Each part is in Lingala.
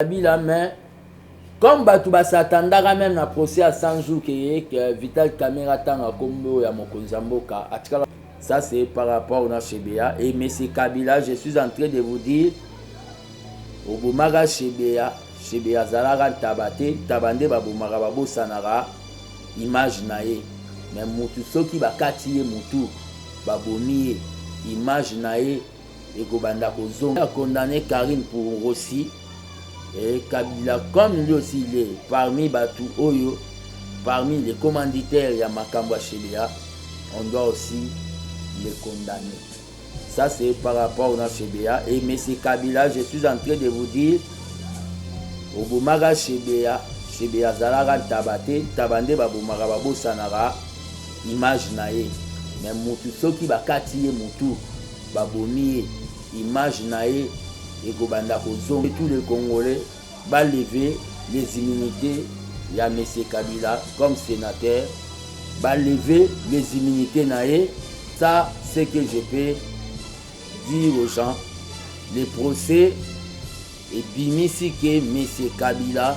Kabila mais comme batu ba s'attendaka meme na procès à 100 jours que ye que Vital Kamerhe atanga kombo ya mokonzi ya mboka atikala ça c'est par rapport na Chebeya et monsieur Kabila je suis en train de vous dire obomaka Chebeya Chebeya azalaka ntaba te ntaba nde babomaka babosanaka image na ye mais mutu soki bakati ye mutu babomi ye image na ye ekobanda kozonga a condamne Carine pour Rossi et Kabila comme lui aussi il est parmi batu oyo parmi les commanditaires ya makambo ya Shebea on doit aussi les condamner ça c'est par rapport na Shebea et monsieur Kabila je suis en train de vous dire obomaka Shebea Shebea azalaka ntaba te ntaba nde babomaka babosanaka image na ye me mutu soki bakati ye mutu Babomi ye image naye ekobanda kozonga tout les congolais ba leve les immunite ya monsieur kabila comme senateur ba leve les immunite naye ça ce que je peux dire aux gens le procès ebimisi que monsieur kabila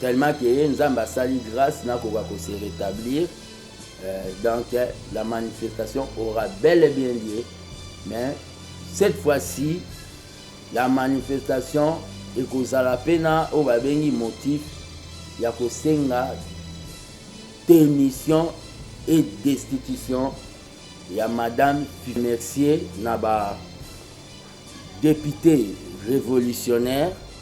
Tellement que ye nzambe asali grace nakoka ko se retablir euh, donc la manifestation aura bel et bien lieu mais cette fois-ci la manifestation ekozala mpe na oyo babengi motif ya kosenga démission et destitution ya madame mercier na ba député révolutionnaire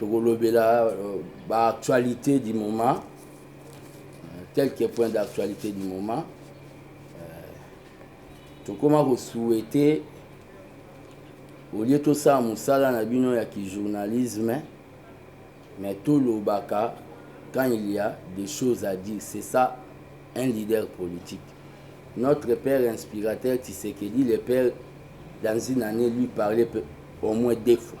tokolobela euh, ba actualité du moment euh, quelques points d'actualité du moment euh, tokoma kosouhaite olie tosala mosala na bino ya kijournalisme mais tolobaka quand il y a des choses à dire c'est ça un leader politique notre père inspirateur tisekedi le père dans une année lui parlait au moins deux fois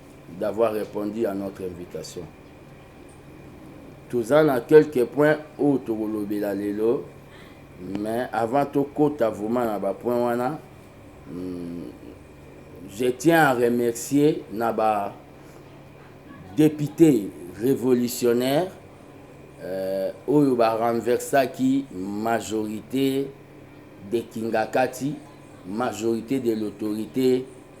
d'avoir repondu à notre invitation. Toza na quelques points oyo tokolobela lelo mais avant tokota vraiment na ba points wana hmm, je tiens à remercier na ba député révolutionnaire euh, oyo ba renversaki majorité de Kingakati majorité de l'autorité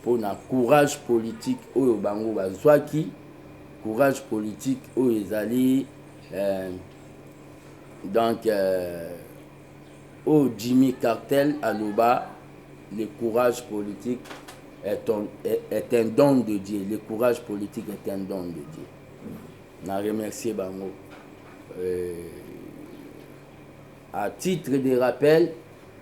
mpo na courage politique oyo bango bazwaki, courage politique oyo ezali eh, donc eh, oyo Jimmy Cartel aloba le courage politique est, on, est, est un don de Dieu, le courage politique est un don de Dieu. Na remercier bango. Euh, à titre de rappel,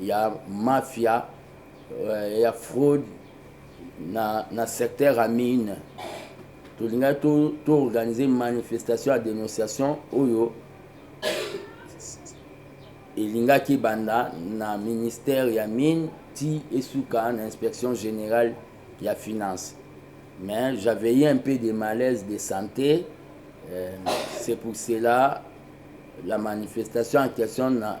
ya mafia ya fraude na na secteur ya mine tolingaki to to organiser manifestation ya denonciation oyo elingaki ebanda na ministère ya mine ti esuka na inspection générale ya finance mais j'avais eu un peu de malaise de santé euh, c'est pour cela la manifestation en question na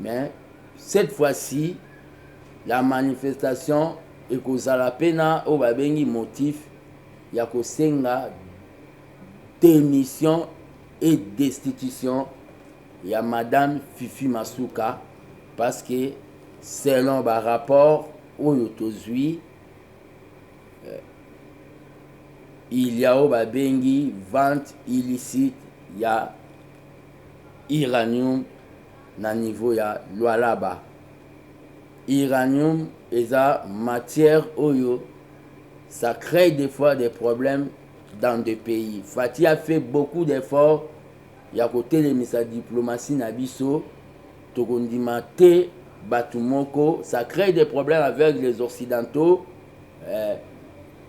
Mais cette fois ci la manifestation ekozala pe na oyo babengi motif ya kosenga demission et destitution ya madame Fifi Masuka parce que selon ba rapports oyo tozui il ya oyo babengi vente illicite ya uranium na niveau ya Lualaba. Uranium eza matière oyo ça crée des fois des problèmes dans des pays. Fatih a fait beaucoup d'efforts ya kotelemisa diplomatie na biso tokondima te bato moko ça crée des problèmes avec les occidentaux euh,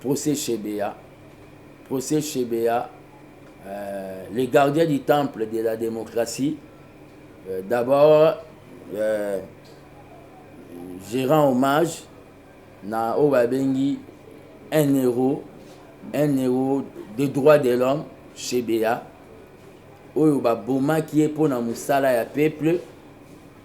Procès Shebeya, Procès Shebeya, euh, le gardien du temple de la démocratie, euh, d'abord euh, je rends hommage na oyo babengi un héros, un héros de droit de l'homme, Shebeya, oyo babomaki ye mpo na mosala ya peuple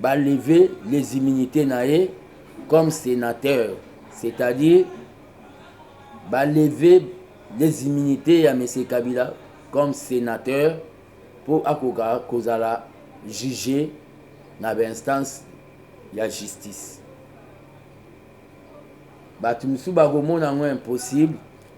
ba lever les immunites na ye comme senateur c'est à dire ba lever les immunites ya monsieur kabila comme senateur mpo akoka kozala juge na ba instance ya justice bato mosusu bakomona yango impossible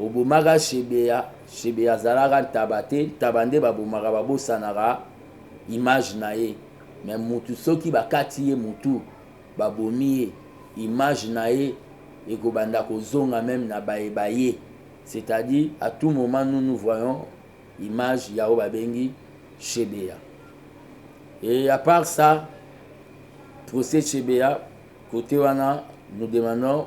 Obomaka shebeya shebeya azalaka ntaba te ntaba nde babomaka babosanaka image na ye mais mutu soki bakati ye mutu babomi ye image na ye ekobanda kozonga meme na baye baye c'est à dire à tout moment nous nous voyons image ya oyo babengi shebeya et à part ça procès shebeya cote wana nous demandons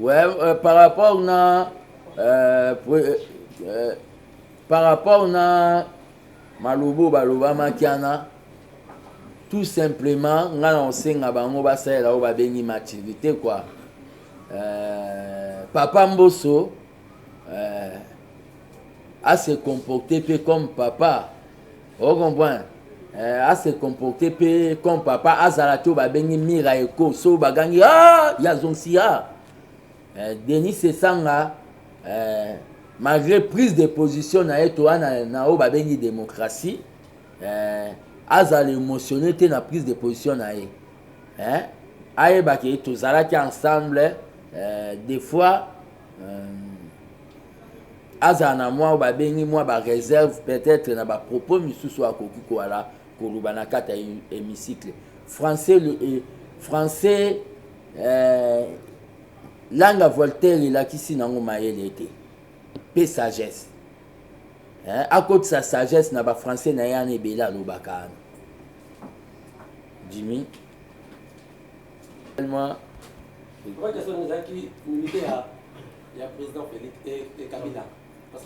Ouais, euh, par rapport na euh, euh, euh, par rapport na malobo baloba makiana tout simplement nga na osenga bango basalela oyo babengi maturité quoi euh, papa mboso euh, a se comporter pe comme papa o oh, comprendre euh, a se comporter pe comme papa azala to babengi mira eko so bagangi ah ya zonsi ah euh, denis sesanga euh, malgré prise de position na ye toa na, na oyo babengi démocratie euh, azala émotionné te na prise de position na ye eh? ayebaki tozalaki ensemble euh, des fois euh, azala na mwa babengi mwa bareserve peut-être na bapropos misusu akoki koala koloba na kati ya hémicycle français le, eh, français eh, langa voltaire elakisi nango mayele te mpe sagesse eh, akotisa sagesse na bafrançais na ye ana ebele alobaka ana jimmy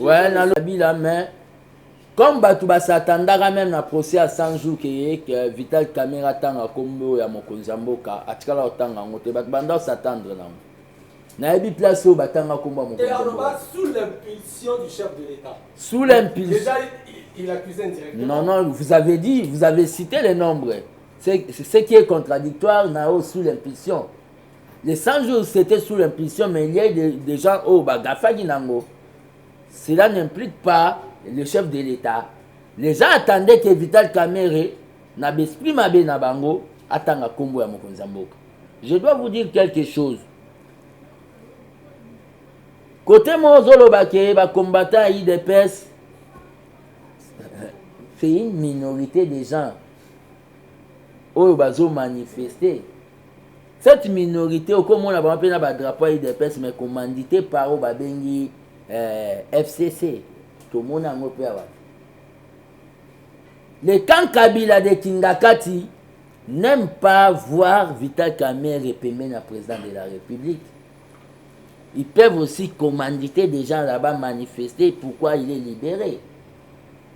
Ouais, na Kabila mais comme bato basatandaka meme na procès ya 100 jours keye ke vital camera atanga nkombo ya mokonzi ya mboka atikala kotanga yango te bato banda osatandre na yango nayebi place oyo batanga nkombo ya mokonzi sous l'impulsion non non vous avez dit vous avez cité les nombres C'est ce qui est contradictoire nao sous l'impulsion. Les 100 jours c'était sous l'impulsion mais il y a des, des gens oh bah gafagi nango. Cela n'implique pas le chef de l'État. Les gens attendaient que Vital Kamerhe na besprit mabe na bango atanga kombo ya mokonzi ya mboka. Je dois vous dire quelque chose. kote moko ozoloba ke bacombattant ya idps c'est une minorité des gens oyo bazo manifeste cette minorité okomona bango mpe na badrapo ya udps mais commandité par oyo babengi eh, fcc tomona yango mpe awa le camp kabila de kingakati n'aime pas voir vital kamere pembeni ya président de la république ils peuvent aussi commanditer des gens là-bas manifester pourquoi il est libéré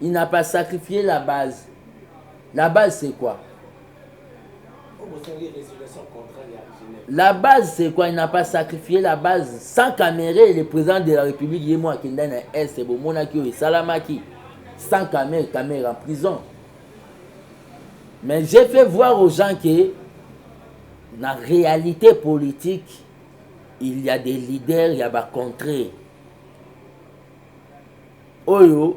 il n'a pas sacrifier la base la base c'est quoi la base c'est quoi il n'a pas sacrifier la base sans camere le président de la république ye mo akenda na est bomonaki oyo esalamaki sans camere camere en prison mais j'ai fait voir aux gens que na réalité politique il y a des leaders ya bacontre oyo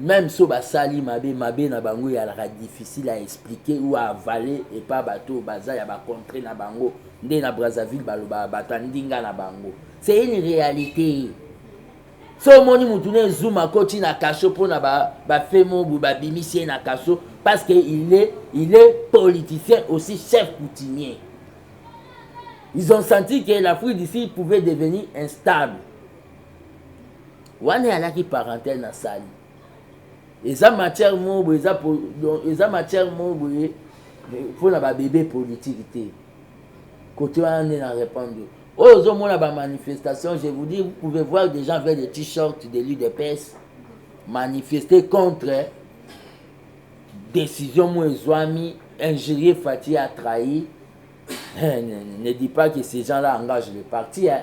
meme so basali mabe mabe na bango eyalaka difficile à expliquer ou à avaler epa bato oyo baza ya bacontre na bango nde na brazzaville balobaka bato ya ndinga na bango c'est une réalité so omoni motu na ezuma akoti na kasho mpo na bafe mobu babimisi ye na kasho parce que il est, il est politicien aussi chef coutumier ils ont senti que l'afrique d'ici pouvait devenir instable wana eyalaki parenthèse nasali eza matière moko boye eza, eza matière moko boye mpo na babebe politike te kote wana nde na répondre oyo ozomona bamanifestation je vous dis vous pouvez voir des gens avec des t-shirts de l'udps manifester contre décision moko ezwami injurier fati a trahi eh, ne, ne dis pas que ces gens là engagent le parti hein.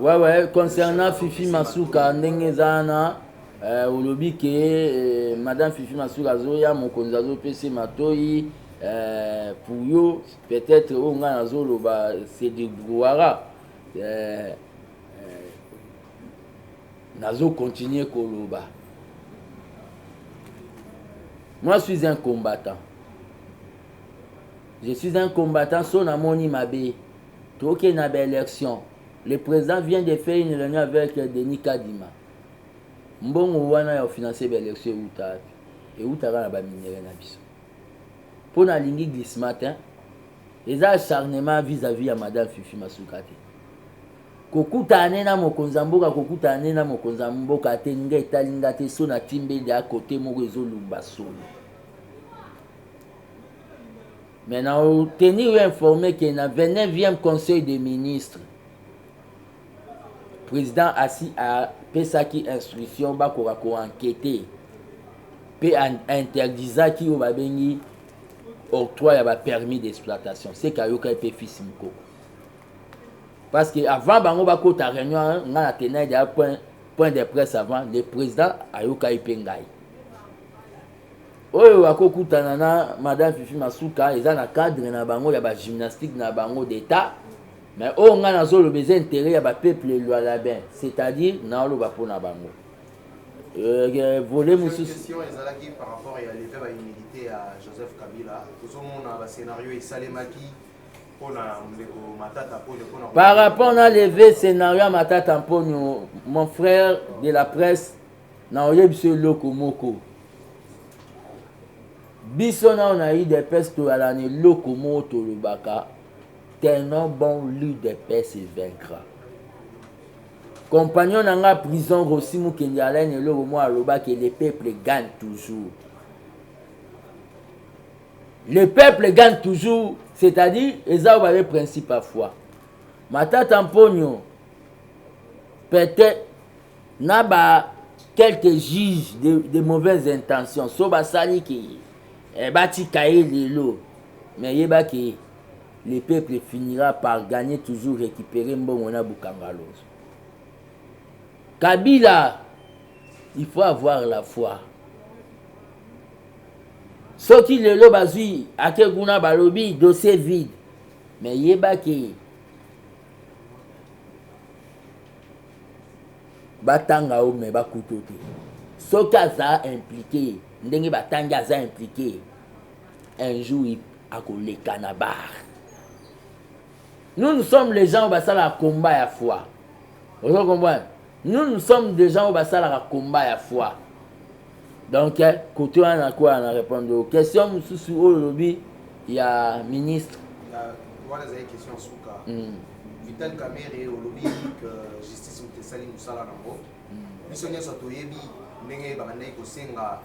ouais, ouais, concernant Fifi Masuka, ndenge zana, euh, olobi ke euh, madame Fifi Masuka azoya mokonzi azopesa matoyi euh, pour yo peut-être oyo oh, ngai nazoloba c'est du brouhara euh, euh, nazo continuer koloba moi je suis un combattant je suis un combattant so namoni mabe Toke na ba election. Le president vient de faire une reunion avec Denis Kadima. Mbongo wana ya financer ba election ewuta wapi? Ewuta kaka na ba minerais na biso. Mpo na lingi glissement te. Eza acharnement vis-à-vis ya madame Fifi Masuka te. Kokutana ne na mokonzi ya mboka, kokutana ne na mokonzi ya mboka te, nga etali nga te, so na timbede a kote moko ezolumba solo. Mais na tenir yo informe que na 29e conseil des ministres president asi apesaki instruction bakoka ko enquete mpe interdisaki oyo babengi octroi ya ba permis d'exploitation seke ayokaki mpe fils mokoko parce que avant bango bakota réunion nga na tenai deya point, point de presse avant le président ayokaki mpe ngai Oyo ako kutana na madame Fifi Masuka eza na cadre na bango ya ba gymnastique na bango d'etat mais oyo nga nazo loba eza interet ya ba peuple lualabin c'est-à-dire na loba pona bango Euh, euh, volet mosusu question ezalaki par rapport ya leve ba humilité ya joseph kabila tozomona ba scénario esalemaki mpona ndeko matata mponio mpona par rapport na leve scénario ya matata mponio mon frère de la presse Nakoyebisa yo eloko moko, biso nao na udps toyala na eloko moko tolobaka tenant bon l'udps e vaincra compagnon na nga prison rosi mokende alaine eloko moko alobaki le peuple gagne toujours le peuple gagne toujours c'est-à-dire eza oyo babe principe ya foi matata mponio pete na ba quelques juges de, de mauvaises intentions so basali ke eh, batika ye lelo mais yeba ke le peuple finira par gagner toujours récupérer mbongo na bukangalozo kabila il faut avoir la foi soki lelo bazwi ake kuna balobi dossier vide mais yeba ke batanga yo mais bakuta yo te soki aza implique ndenge batangi aza implique un jour akoleka na bar nous nous sommes les gens oyo basalaka combat ya foi ozo comprendre nous nous sommes des gens oyo basalaka combat ya foi Donc kote wana na kwa na répondre yo. Question mususu oyo lobi ya ministre. Ya wana ezali question ya suka. Mm. Vital Kamerhe olobi que justice moto esali musala nango. Mm. Biso nyonso toyebi ndenge babandaki kosenga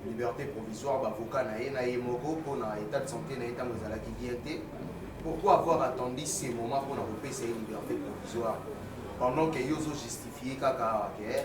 liberté provisoire bavocat na ye na ye moko mpo na état de santé na ye ntango ezalaki bien te pourquoi avoir attendu ce moment mpo na kopesa ye liberté provisoire pendant que yo ozojustifie kaka awa ke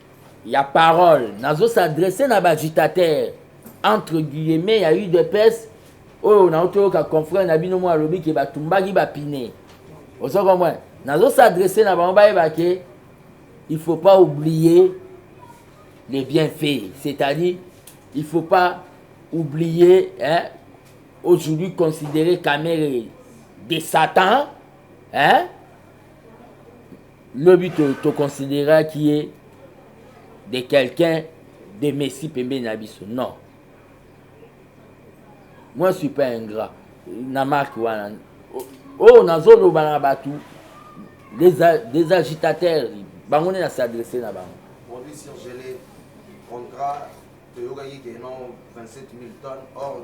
ya parole nazo s'adresser na ba agitateur entre guillemets ya udps oyo nauti oyoka confrère na bino moko alobi ke batumbaki bapine ozo comprendre nazo s'adresser na bango bayeba ke il faut pas oublier les bienfaits c'est-à-dire il faut pas oublier hein, aujourd'hui considérer Kamere de Satan hein, Lobi to to consideraki ye de quelqu'un de Messi pembeni na biso. Non. Moi je suis pas ingrat na marque wana. Oh nazoloba na bato des, des agitateurs bango nde na s'adresse na bango. Produit surgelé, contrat toyokaki ke non 27 000 tonnes or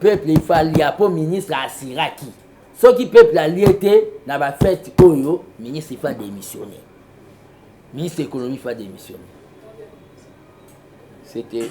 peuple il faut alia mpo ministre asiraki soki peuple alie te na bafete oyo ministre il faut adémissionne ministre économie il faut adémissionne c'était